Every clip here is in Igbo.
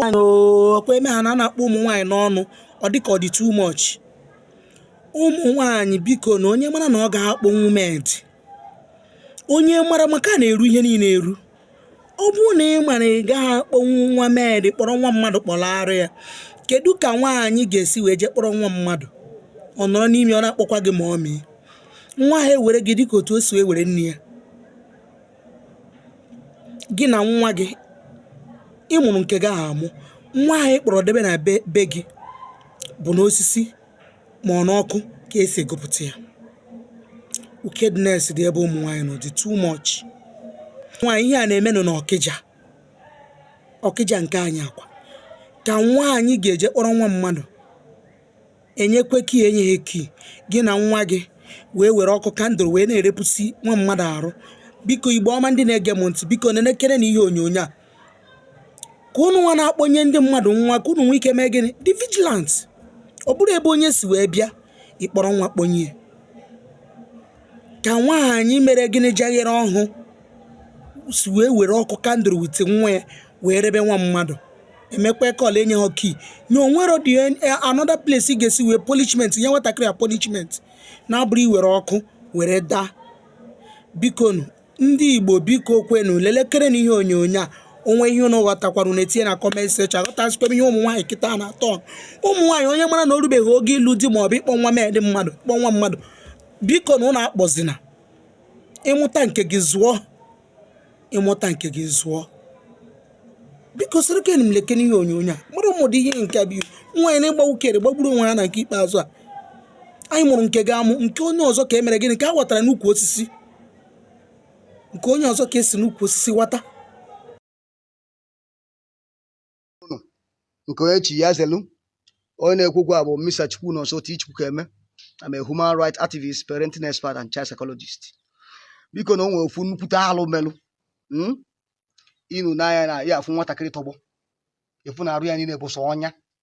ọkwa eme ha na a na-akpọ ụmụ nwaanyị n'ọnụ ọ dịka ọ dị too much ụmụ nwaanyị biko na onye mara na ọ gaghị akpọnwu maid onye mara maka a na-eru ihe niile eru ọ bụrụ na ị ma na ị gaghị akpọnwu nwa maid kpọrọ nwa mmadụ kpọlaara ya kedu ka nwaanyị ga-esi wee jee kpọrọ nwa mmadụ ọ nọrọ n'ime ọ na-akpọkwa gị mummy nwa ahụ ewere gị dịka otu o si wee were nne ya gị na nwa gị ị mụrụ nke gị ahụ amụ nwa ahụ ị kpọrọ debe na be gị bụ n'osisi ma ọ n'ọkụ ka esi gụpụta ya wickedness dị ebe ụmụ nwaanyị nọ dị too much nwaanyị ihe a na-emenụ na ọkịja ọkịja nke anyị a kwa ka nwaanyị ga-eje kpọrọ nwa mmadụ enyekwe kii enye ya kii gị na nwa gị wee were ọkụ candle wee na-erepụsi nwa mmadụ arụ biko igbo ọma ndị na-ege m ntị biko nenekere na ihe onyonyo a ka unu nwa na-akpọnye ndị mmadụ nwa ka unu nwee ike mee gịnị dị vigilant ọ bụrụ ebe onye si wee bịa ịkpọrọ nwa kpọnye ka nwaanyị mere gịnị jaghere ọhụ si wee were ọkụ candle with nwa ya wee rebe nwa mmadụ emekwa kọl enye ha kii na o nwerọdị another place ị ga-esi wee punishment nye nwatakịrị a punishment na-abụrọ iwere ọkụ were daa bikonu ndị igbo biko kwenu lelekere na ihe onyonyo a o nwe ihe ụnụ ghọtakwara ụnụ etinye na comment section aghọtazikwa m ihe ụmụ nwaanyị kịta na-atọ ụmụ nwaanyị onye mara na o rubeghị oge ịlụ di ma ọ bụ ịkpọ nwa maid mmadụ kpọ nwa mmadụ biko na ụnụ akpọzina ị mụta nke gị zụọ ị mụta nke gị zụọ biko sorokene m lekene ihe onyonyo a mara ụmụdị ihe nke bụ nwaanyị na-ịgba ukere gbagburu onwe ya na nke ikpeazụ a anyị mụrụ nke gị amụ nke onye ọzọ ka e mere gịnị ka a ghọtara n'ukwu osisi nke onye ọzọ ka esi n'ukwu osisi wata nke onye chi ya zelu onye na-ekwukwa bụ Mr. Chukwunonso T. Chukwukeme I'm a human rights activist parenting expert and child psychologist biko na o nwere ofu nnukwute alụ melụ hmm? ịnụ n'anya na ya afụ nwatakịrị tọgbọ efu na arụ ya niile bụ sọ ọnya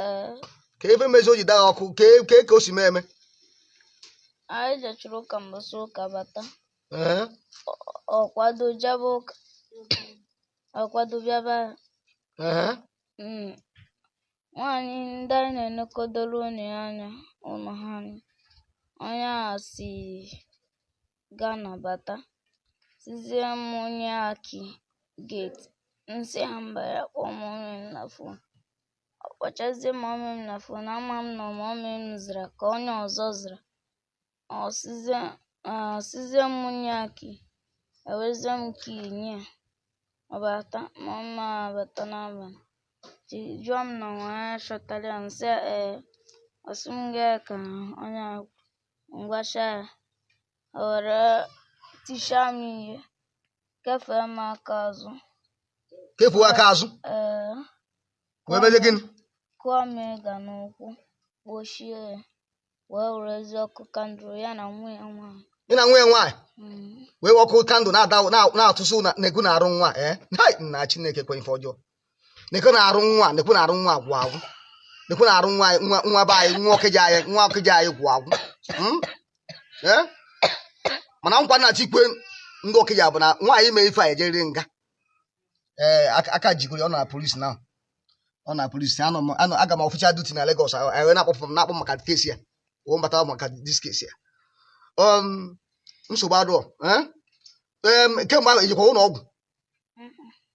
Ee, ka ife mezi o ji daa ọkụ ka e- ka e- ka o si mee eme anyị jechara ụka mbọsị ụka bata Ee, ọ kwado jebe ụka ọ kwado bịaba ya ee. Mm. nwaanyị ndị anyị na-enekodoro ụnọ ya anya ụnọ ha anya onye a si ga-anabata sizie m nye ya kii geti nsị ya mba ya kpọọ mọmị m na fon ọ kpọchazie mọmị m na fon ama m na mọmị m zara ka onye ọzọ zara ọ sịzie m nye ya kii ewezie m kii nye ya ọ bata mama m abata n'abalị jụọ m na nwa ya chọtara ya nsị ee ọ sị m gaa ka onye akwụ ngwacha ya o were tichaa m ihe kefee m aka azụ kefuo aka azụ ee wee mezie gịnị kụọ m ịga n'ụkwụ kpochie ya wee werezie ọkụ kandụl ya na nwa ya nwaanyị ya na nwa ya nwaanyị Mm. wee ọkụ kandụl na-ada na- na-atụsụ na- na-egwu n'arụ nwa ee hai nna chineke kwe ife ọjọọ nekwe na arụ nwa nekwe na arụ nwa gwụ agwụ nekwe na arụ nwa anyị- nwa nwa be anyị nwa ọkịja anyị nwa ọkịja anyị gwụ agwụ Mm? Eh? mana nkwa m na-achọ ikwe ndị ọkịja bụ na nwaanyị mee ife a ejeriri nga ee aka- aka jigoro ya, ọ nọ na polisi na ọ nọ na polisi anọ m anọ aga m official duty na Lagos a- anyị wee na-akpọpụ m na-akpọ m maka kesi ya wee mbata maka dis kesi ya um, nsogbu adụọ eh? Em, kemgbe ahụ ejekwa ụlọ ọgwụ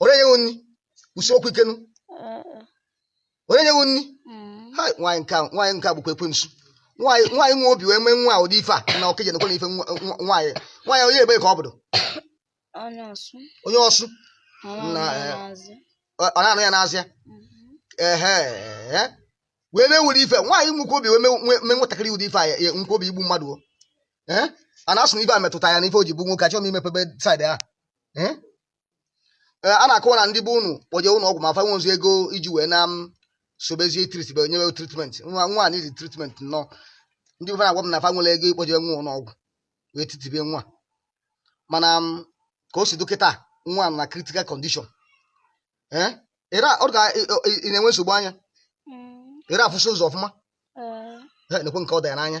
onye nyeghị nri kwusie okwu ike nụ onye nyeghị nri ha nwaanyị nke a nwaanyị nke a bụkwa ekwensu nwaanyị nwaanyị nwe obi wee mee nwa a ụdị ife a na ọkịja nekwa na ife nwa- nwa- nwaanyị nwaanyị onye ebe ka ọ bụdo Onye ọsụ. onye ọsụ Na, eh, Maazị. ọ ọ na-anụ ya n'Azịa ehe ehe. wee mee ụdị ife nwaanyị nwekwa obi wee mee- nwee mee nwatakịrị ụdị ife a ya ya- nwekwa obi igbu mmadụ o ee a na-asị na ife a metụta ya na ife o ji bụ nwoke achọghị m imepebe saịdị ahụ Hmm? Ee, a na-akọwa na ndị be unu kpọje ụlọ ọgwụ ma fa nwezu ego iji wee na m sobezie tritbe nyewe tritment nwa nwa a nidi tritment nnọọ ndị be fa na-agwa m na fa nwere ego ịkpọje nwa ụlọ ọgwụ wee tritibe nwa mana m, ka o si dị kịta nwa nọ na critical condition ee ịra ọ ga ị- ị- ị na-enwe nsogbu anya Mm, ị na-afụsi ụzọ ọfụma eh, Ee, nekwe nke ọ dị ya n'anya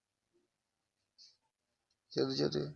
Cadı cadı.